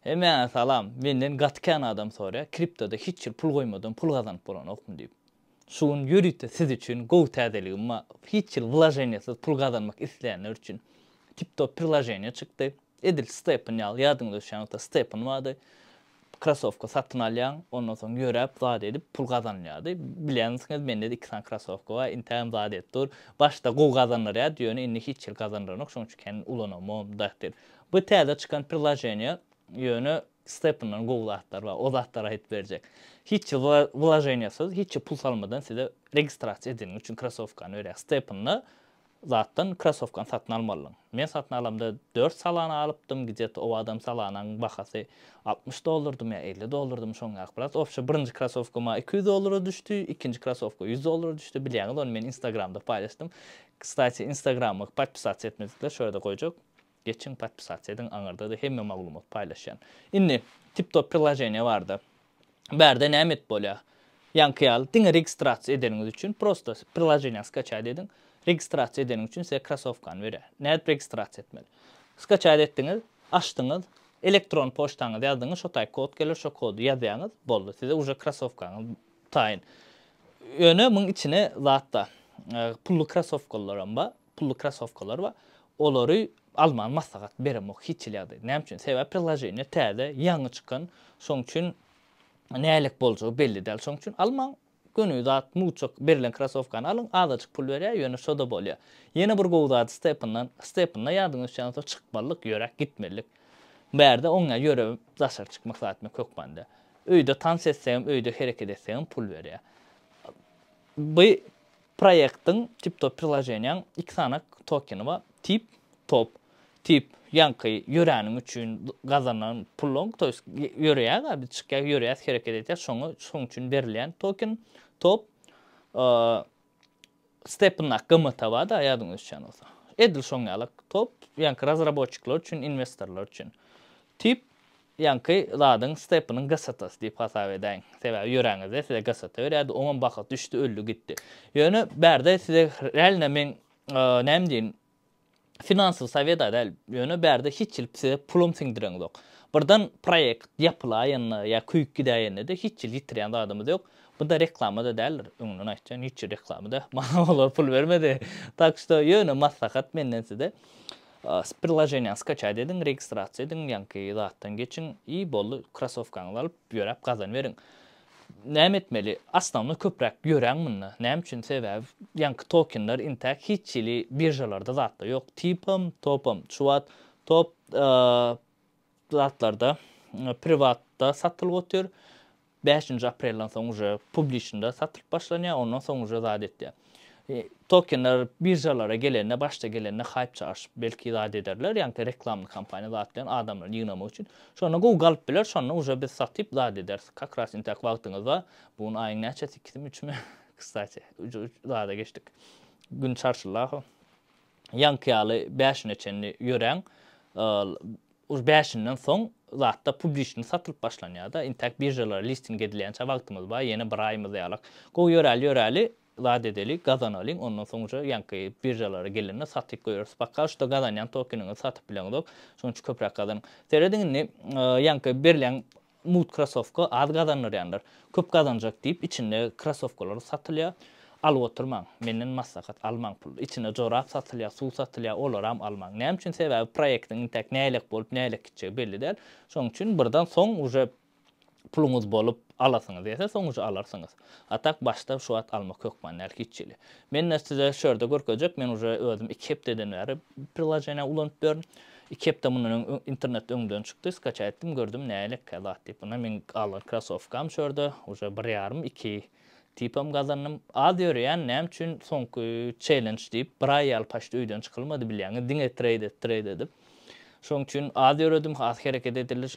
Hemäňe salam, menden gaty kän adam sorýar kriptoda hiç ýyl pul goýmadan pul gazanyp bolanokmy diýip. Şu gün ýörite siz üçin gowy täzeligim bar, hiç ýyl wlaženiýasyz pul gazanmak isleýänler üçin tiptop prilaženiýa çykdy, edil stepn ýaly ýadyňyza düşýän bolsa stepn bardy, krasowka satyn alýaň, ondan soň ýöräp zat edip pul gazanylýardy, bilýänsiňiz mende-de iki sany krasowka bar, intägem zat edip dur, başda gowy gazandyrýardy, ýöne indi hiç ýyl gazandyranok, şoň üçin kän ulanamam dahyl. Bu täze çykan priloženiýa ýöne stepundan gowy zatlar bar o zatlary aýdyp berjek. Hiç wlaženiýasyz hiç pul salmadan size registrasiýa edeniň üçin krasowkany berýär. Stepunly zatdan krasowkany satyn almalyň. Men satyn alamda dört salana alypdym gidýet owadam salanaň bahasy altmyş dollardymy ýa elli dollardymy şoň ýaly biraz obşe birinji krasowka maňa iki ýüz dollara düşdi ikinji krasowka ýüz dollara düşdi bilýäňiz ony men instagramda paýlaşdym kstati instagrama podpisatsa etmedikler şo ýerde goýjak. Geçiň podpisat ediň aňyrdada hemme maglumat paýlaşýan. Indi tip top prilajeniýa barda bärde näme edip bolýa? Ýaňky ýaly diňe registrasiýa edeniňiz üçin prosta prilajeniýany skaçaýt ediň. Registrasiýa edeniň üçin size krasowkany berýär. Nädip registrasiýa etmeli? Skaçaýt etdiňiz, açdyňyz, elektron poçtaňyzy ýazdyňyz şo taý kod geler şo kody ýazýaňyz boldy size uje krasowkaňyz taýyn. Ýöne muň içine zatda pully krasowkalar hem bar. Pully krossowkalar bar. Olary almagy maslahat beremok hiç hili ýagdaýda. Näme üçin? Sebäbi priloženiýa täze, ýaňy çykan. Şoň üçin nähilek boljagy belli däl. Şoň üçin almaň. Göni zat muçak berlen krossowkany alyň. Azajyk pul berýär, ýöne şo-da bolýar. Ýene bir gowy zady stepindan. Stepinda ýadyňyz düşýän bolsa çykmalyk, ýöräp gitmelilik. Bärde oň ýaly ýörewip daşary çykmak zat ýok hökmanda. Öýde tans etsegem, öýde hereket etsegem pul berýär. By Proýektiň TipTop priloženiýaň iki sany tokeni bar, Tip, Top. Tip, ýaňky ýöräniň üçin gazanan puluň, to ýest ýöreýäs-ä biz, çykýas, ýöreýäs, hereket edýäs, şoňa, şoň üçin berilýän token. Top, stepndaky gymmat-a bar-da, ýadyňyza düşýän bolsa. Edil şoň ýaly, Top, ýaňky razraboçikler üçin, inwestorlar üçin. Tip, Ýaňky zadyň Stepanyň GST-sy diýip hasap edäýiň. Sebäbi ýöräňizde size GST berýärdi, oňam baha düşdi, öldi gitdi. Ýöne bärde size realno meň näme diýin, finansowy sowet-a däl, ýöne bärde hiç ýyl size pulum siňdireňzok. Birden proýekt ýapylaýanda ýa köýüp gidäýende-de hiç ýyl ýitirýän zadymyz ýok. Bu-da reklama-da däldir, öňünden aýtýan, hiç ýer reklama-da. Maňa olar pul bermedi. Tak şto, ýöne maslahat menden size. Priloženiýany skaçat ediň, registrasiýa ediň, ýaňky zatdan geçiň i boldy, krosowkaňyzy alyp, ýöräp gazan beriň. Näme etmeli? Asnownoý köpräk ýöräň munda. Näme üçin? Sebäbi ýaňky tokenler intäk hiç hili biržalarda zatda ýok. Tipam, topam, şu wagt top zatlarda priwatda satylyp otyr. Bäşinji aprelden soň uje publiçnda satylyp başlanýar, ondan soň uje zat etýär. Tokenler biržalara gelende, başda gelende haýp çaşyp, belki zat ederler, ýagny reklamny kampaniýa zat bilen adamlary ýygnamak üçin. Şonda gowy galyp biler, şonda uje biz satyp zat ederis. Kak ras intäk wagtyňyz bar. Bu gün aýyň näçesi, ikisimi, üçümi? Kstati, uje zada geçdik. Gün çarşylaho. ýaňky ýaly bäşine çenli ýöräň ol bäşinden soň zatda publiçni satylyp başlanýada intäk biržalara listing edilýänçä wagtymyz bar ýene bir aýymyz ýalak gowy ýöräli ýöräli zat edeli gazanalyň ondan soň uje ýaňky biržalara gelende satyp goýarys poka şuda gazanýan tokeniňizi satyp bileňizok şonuň üçin köpräk gazanyň serediň indi ýaňky berlen Mugt krasowka az gazandyrýandyr. Köp gazanjak diýip içinde krasowkalar satylýar. Alyp oturmaň. Menden maslahat almaň pul. Içinde jorap satylýar, suw satylýar, olaram almaň. Näme üçin sebäbi proýektiň intäk nähilek bolup nähilek gitjegi belli däl. Şonuň üçin birden soň uje puluňyz bolup alasyňyz ýese soň uje alarsyňyz. A tak başda şu at almak hökman däl hiç hili. Men de size şu ýerde görkezjek, men uje özüm iki hepdeden bäri prilojeniýäni ulanyp ýörün. Iki hepde mundan öň internetde öňden çykdy, skaça etdim, gördüm nälekä zat diýip. Ynha meň algan krosowkam şu ýerde, uje bir ýarym, iki tipam gazandym. Az ýöreýän, näme üçin soňky çellenç diýip, bir aý ýaly paçt öýden çykylmady bilýäňiz, diňe treýd et, treýd edip. Şoň üçin az ýöredim, az hereket edildi,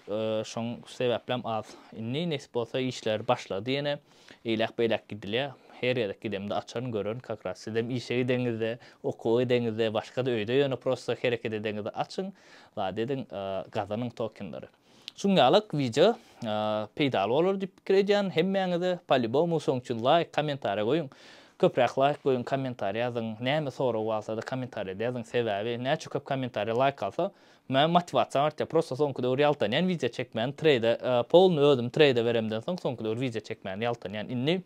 şoň sebäplem az. Indi nesip bolsa işler başlady ýene, eýläk beýläk gidilýä. Her gezek gidemde açaryn, görerin, kak raz sizem işe gideňizde, okuwa gideňizde, başga-da öýde ýöne prosta hereket edeňizde açyň, zat ediň, gazanyň tokenleri. Şuňňalak wideo peýdaly bolar diýip pikir edýän hemmäňize palibomu şoň üçin laýk kommentariýa goýuň köpräk laýk goýuň kommentariýa ýazyň näme sorag barsa-da kommentariýada ýazyň sebäbi näçe köp kommentariýa laýk galsa men motiwasiýam artýar prosta soňky döwür ýaltanýan wideo çekmäni treýde polny özüm treýde beremden soň soňky döwür wideo çekmäni ýaltanýan indi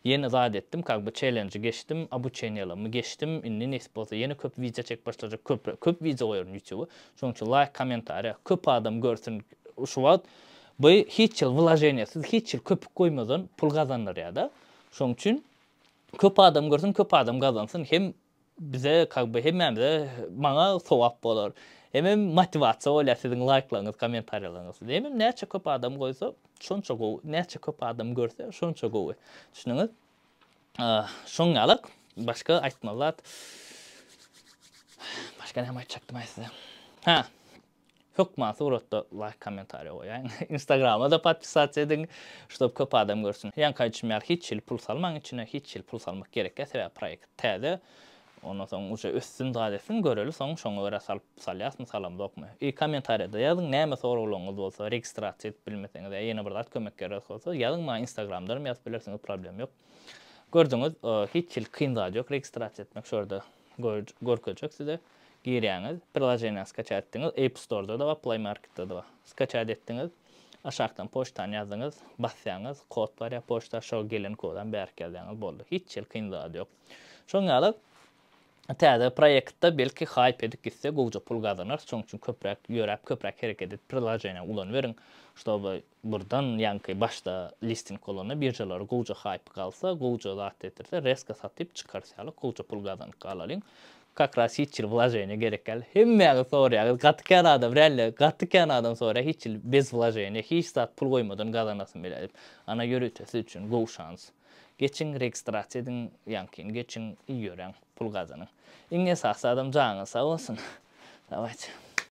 Ýene zat etdim kak by çelenji geçdim obuçeniýalamy geçdim indi nesip bolsa ýene köp wideo çekip başlajak köpre köp wideo goýaryn ýutuba şoň üçin laýk kommentariýa köp adam görsün şu wagt by hiç ýyl wlaženiýasyz hiç ýyl köpük goýmazan pul gazandyrýada şoň üçin köp adam görsün köp adam gazansyn hem Bize kak be hemmämize maňa sogap bolar. Hemem motiwasiýa bolýar siziň laýklaryňyz kommentariýalaryňyz. Hemem näçe köp adam goýsa şonça gowy. Näçe köp adam görse şonça gowy. Düşündiňiz? Şoň ýalak başga aýtmaly zat. Başga näme aýtjakdymaý size. Hä. Hökman suratda laýk kommentariýa goýaýyň. Instagramada podpisasiýa ediň ştob köp adam görsün. Ýaňky aýdyşym ýaly hiç hili pul salmaň içine hiç hili pul salmak gerekýa sebäbi proýekt täze ondan soň uje össün zat etsin göreli soň şoňa görä salyp salýasmy salamzokmy. I kommentariýada ýazyň näme soraglaryňyz bolsa registrasiýa edip bilmeseňiz ýa ýene bir zat kömek gerek bolsa ýazyň maňa instagramdanam ýazyp bilersiňiz problem ýok. Gördüňiz hiç hili kyn zat ýok registrasiýa etmek şu ýerde Görkezjek size. Girýäňiz. Prilojeniýany skaça etdiňiz. App Store-da-da bar, Play Market-de-de bar. Skaça etdiňiz. Aşakdan poçtany ýazdyňyz. Basýaňyz. Kod barýar poçta. Şo gelen kodam bärik ýazýaňyz. Boldy. Hiç hili kyn zady ýok. Şoň ýaly täze proýektde belki haýp edip gitse gowja pul gazanarys. Şoň üçin köpräk ýöräp, köpräk hereket edip prilojeniýa ulanyberiň. Şoba Burdan ýaňky başda listing bolanda biržalary gowja hype galsa, gowja zat getirse rezko satyp çykarys ýaly gowja pul gazanyp galalyň. Kak raz hiç ýyl wlaženiýa gerek gal. Hemmäňiz sorýaňyz gaty kän adam relle gaty kän adam sorýa hiç ýyl bez wlaženiýa hiç zat pul goýmadan gazanasym bilýä diýip. Ana ýörite siz üçin gowy şans. Geçiň registrasiýa ediň ýaňkyny geçiň ýöräň pul gazanyň. Iň esasy adam janyňyz sag bolsun. Dawayçy.